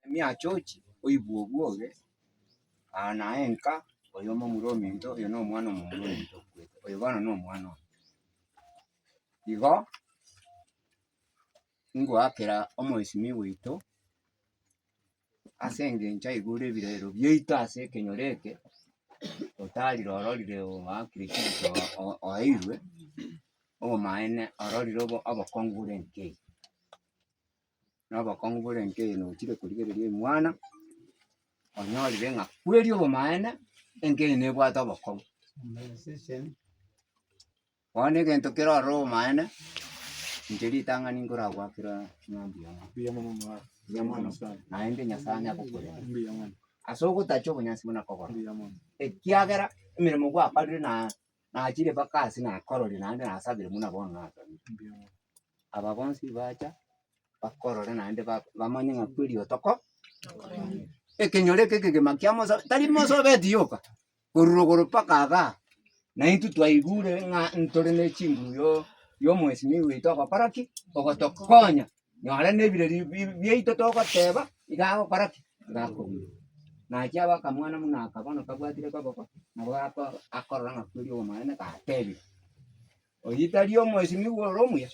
emiachochi, oibwe obwoge, aa naye nka oyo momura ominto, oyo na omwana omomura ominto okwete, oyo bono na omwana one. Igo ngoakera omoesimio oito ase engencho aigure ebirero biaito ase ekenyoro eke, otarire ororire oakire chibicha o- oeirwe, obomaene ororire obo- obokong'u bore nkei. na obokong'u bore nkeye nochire korigereria oimwana, onyorire ng'a kweri obomaene enkeye nebwate obokong'u. Bono egento kere ororo obomaene, inche ritang'ani nkoragwakera ng'ambu yane, mbuya mono naende Nyasae onye agokorenda ase ogotacha obonyansi buna kogora, ekiagera emeremo gwakorire na. Nachire mpaka aase nakororie naende nasabere buna bono nasabire. Aba bonsi bacha bakorore naende ba- bamanye ng'a kweri otoko tokorende. Ekenyoro eke ekegima kia Musa tari Musa obeti yoka, korwa rogoro mpaka igaa, na intwe twaigure ng'a ntore ne chinguru yo- yomwesimia ogoita ogokora ki? Ogotokonya. Nonye nebireri biaito togoteba, iga agokora ki? Iga akobua. Nachia abe akamwana buna aka bono kabwatire koboko, nabo ako akorora ng'a kweri obomonene gatebire. Oyio tari omwesimigwa ore omuya?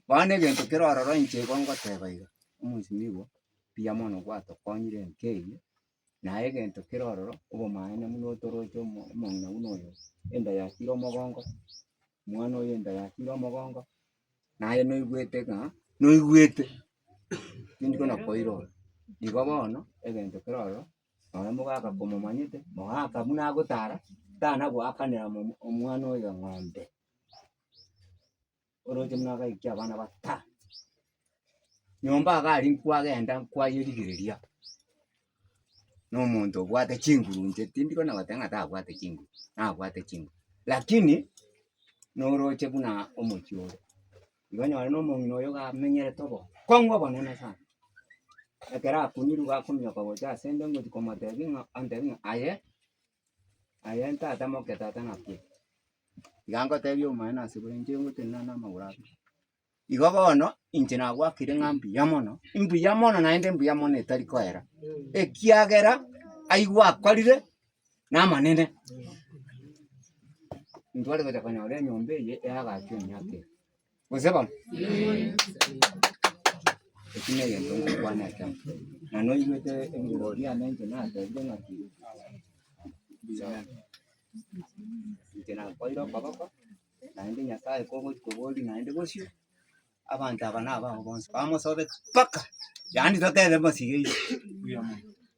Bono egento kere ororo inche igo ngoteba iga, omwesimigwa mbuya mono gwato konyire enka eyio. Naye egento kere ororo obomanene buna otoroche omo- omong'ina buna oyo, enda yachire omogongo, omwana oyo enda yachire omogongo, naye noigwete ng'a noigwete tindi kona koira ore. Igo bono egento kere ororo, nonye mogaka komomanyete, mogaka buna agotara, tana goakanera omo- omwana oyo eng'ombe. Oroche buna agaikia abana batano nyomba iga aria nkwagenda nkwayia rigereria na omonto obwate chinguru inche tindi kona goteba ng'a tabwate chinguru, nabwate chinguru lakini noroche buna omochie ore. Igo onyore na omong'ina oyo iga amenyerete obo kong'u obonene sana, ekero akunyiru iga akominyoka gocha ase nde ngochia komotebia ng'a antebi ng'a aye aye ntatamoke tata nakwete. Iga ngotebia omonyene ase igoro inche ngotenena namagoro aba. Igo bono, inche nagwakire ng'a mbuya mono, mbuya mono naende mbuya mono etari koera, ekiagera ayio gwakorire namanene. Ntware gocha konyora enyomba eye eagachwa emiaka eye. Gose bamwe? Eki negento ngokwana ekemo. Na noigwete ebirogo biane inche natebire ng'aki inche nakwaire okoboko naende Nyasaye kogochia koboria naende bosio abanto aba nabao bonsi bamosobete mpaka yaani totebe mbosi gaiga.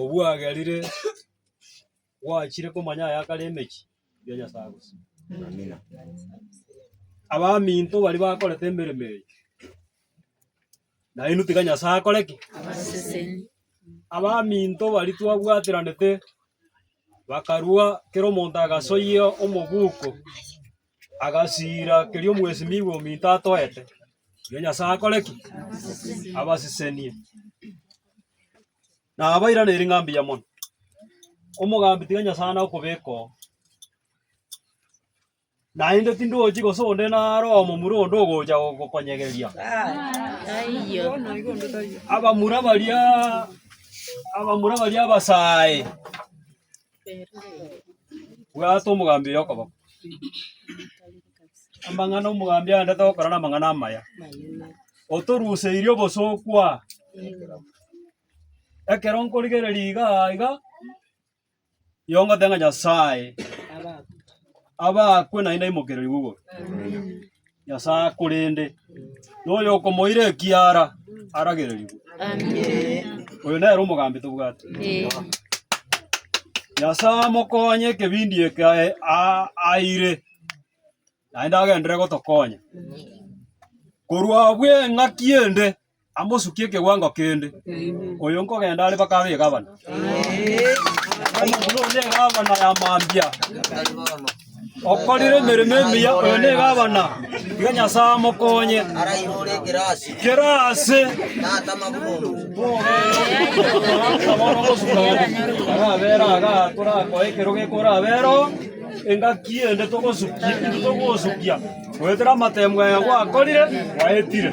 obwagerire gwachire komanya aya akare emechi ya Nyasaye gose. Abaminto baria bakorete emeremo eye, nainwe tiga Nyasae akore ki? Abaminto baria twabwateranete bakarua kera omonto agasoyia omobuko. Agasiira keria omwesimigwa ominto atoete, erio Nyasae akore ki? Abasisenie. Nabairaneri ng'a mbuya mono. Omogambi tiga Nyasae ane okobeka oo. Naende tindochi gose onde naro omomura onde ogocha gokonyegeria. Abamura baria abamura baria abasae. Bwata omogambi oyo okoboko. Amang'ana omogambi aendete gokora namang'ana amaya. Otoruseirie obosooku aa. Ekero nkorigereria iga iga, nigo ngoteba ng'a Nyasae abakwe naende aimokererigwe igoro. Nyasae, korende noyokomoira ekiara aragererigwe. Oyo nere omogambi tobwate. Nyasae amokonye ekebindi eke ae- a- aire, naende agenderere gotokonya. Korwa abwo eng'aki ende amosukie ekewango kende. Oyo nkogenda are mpaka abe egavana. Omonto nonye egavana ya mambia. Okorire emeremo emiya, oyo ne egavana. Iga Nyasaye amokonye. Arairure ekerasi. Kerasi. Tata mabuono. Arabera aga torakoe ekero gekorabero engaki ende togosukia intwe togosukia goetera amatemu aya gwakorire gwaetire.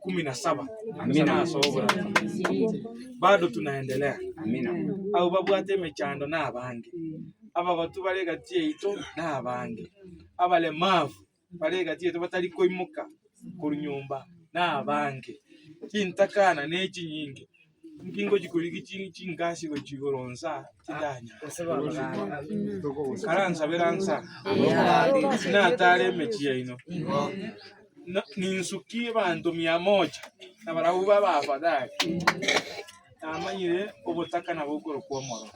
kumi na saba Amina. ase oborabwo. Bado tunaendelea Amina. abo babwate emechando na abange, abagotu bare egati yaito na abange, abalemavu bare egati yaito batari koimoka korwa nyomba na abange, chintakana ne echinyinge Inki ngochia korigia chi- chingasi gochia igoro nsa tindanyara? Karansabera nsa tinatare emechie yaino. Na- ninsukie abanto mia moja, na barabwo ba abafadhali. Namanyire obotaka nabo okorokwa omoro.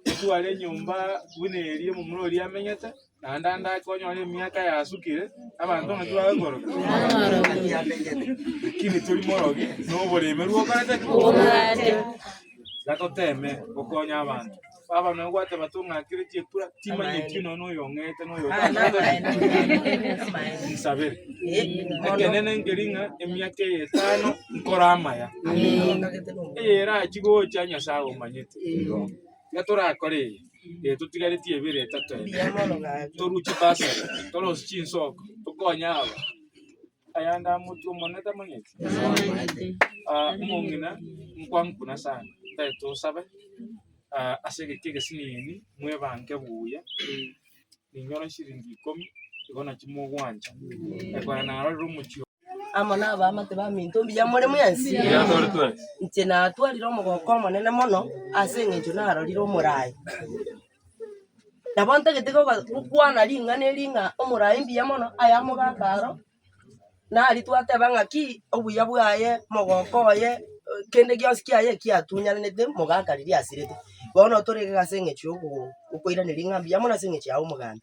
Otware enyomba buna eria omomura oria amenyete. Naende ande ake onyore emiaka yasukire, abanto ng'aki bagokoroka? Lakini tori morogi noboremeri okorete ki? Obwate. Tiga toteme gokonya abanto. Baba nonya gwateba tong'akere chikura, timanyeti nonya noyo ong'eete noyo insabere. Ekenene nkeri ng'a emiaka eye etano nkore amaya. Eye erachie gocha Nyasaye omanyete. Iga torakore eye, ee totigareti ebere etato ebe, toruche bursary, torosie chinsoko, tokonye aba. Ayande amotwe omonene tamanyeti? Ah, omong'ina nkwangu buna sana, tari tosabe ah, ase egeki egesinini, mwebanke buya, ninyore chiringi ikomi, igo nachio mogwancha, ekero narorire omochie oo. amo nabaamate baminto mbuya more mwensi. Inche natwarire omogooko omonene mono ase eng'encho narorire omoraai. Nabo ntagete koba gokwana ring'ana eri ng'a omorai mbuya mono aye amogaaka aro, nari twateba ng'aki obuya bwaye, mogooko oye, kende gionsi kiaye eki atunyananete mogaaka riria asirete. Bono torenge iga ase eng'encho ya ogo- gokoiraneria ng'a mbuya mono ase eng'encho yago omogambi.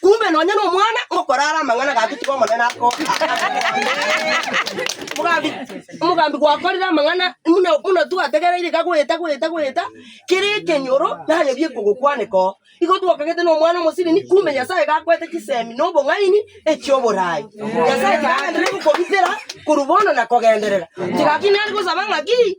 Kumbe nonya nomwana okorara amang'ana gake tiga omonene akoa. Omogambi omogambi gwakorire amang'ana muna muna twategereire iga goeta goeta goeta kere ekenyoro nanyebie kogokwaneka oo. Igo twakagete nomwana omosibini kumbe Nyasaye gakwete chisemi na obong'aini echioborai. Nyasaye tigagendereri gokobitera korwa bono na kogenderera. Tiga ki nare gosaba ng'aki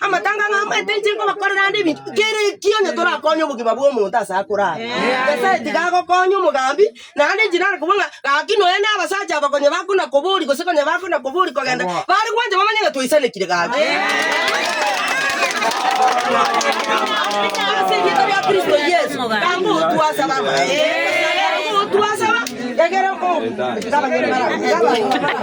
Amatanga ng'a amange inche nkobakorera ande ebinto, kera ekio onye torakonye obogima bw'omonto ase akorara. Nyasae tiga agokonye omogambi, naende inche nare kobua ng'a gaki nonya na abasacha aba konya bakona koboria gose konya bakona koboria kogenda, bare gwancha bamanye ng'a twaisanekire gaki. Ase erieta ria Kristo Yeso, gamba otwe ase abamalaika. Gamba otwe ase aba egere o- ase abanyene bara- ase abanto baba.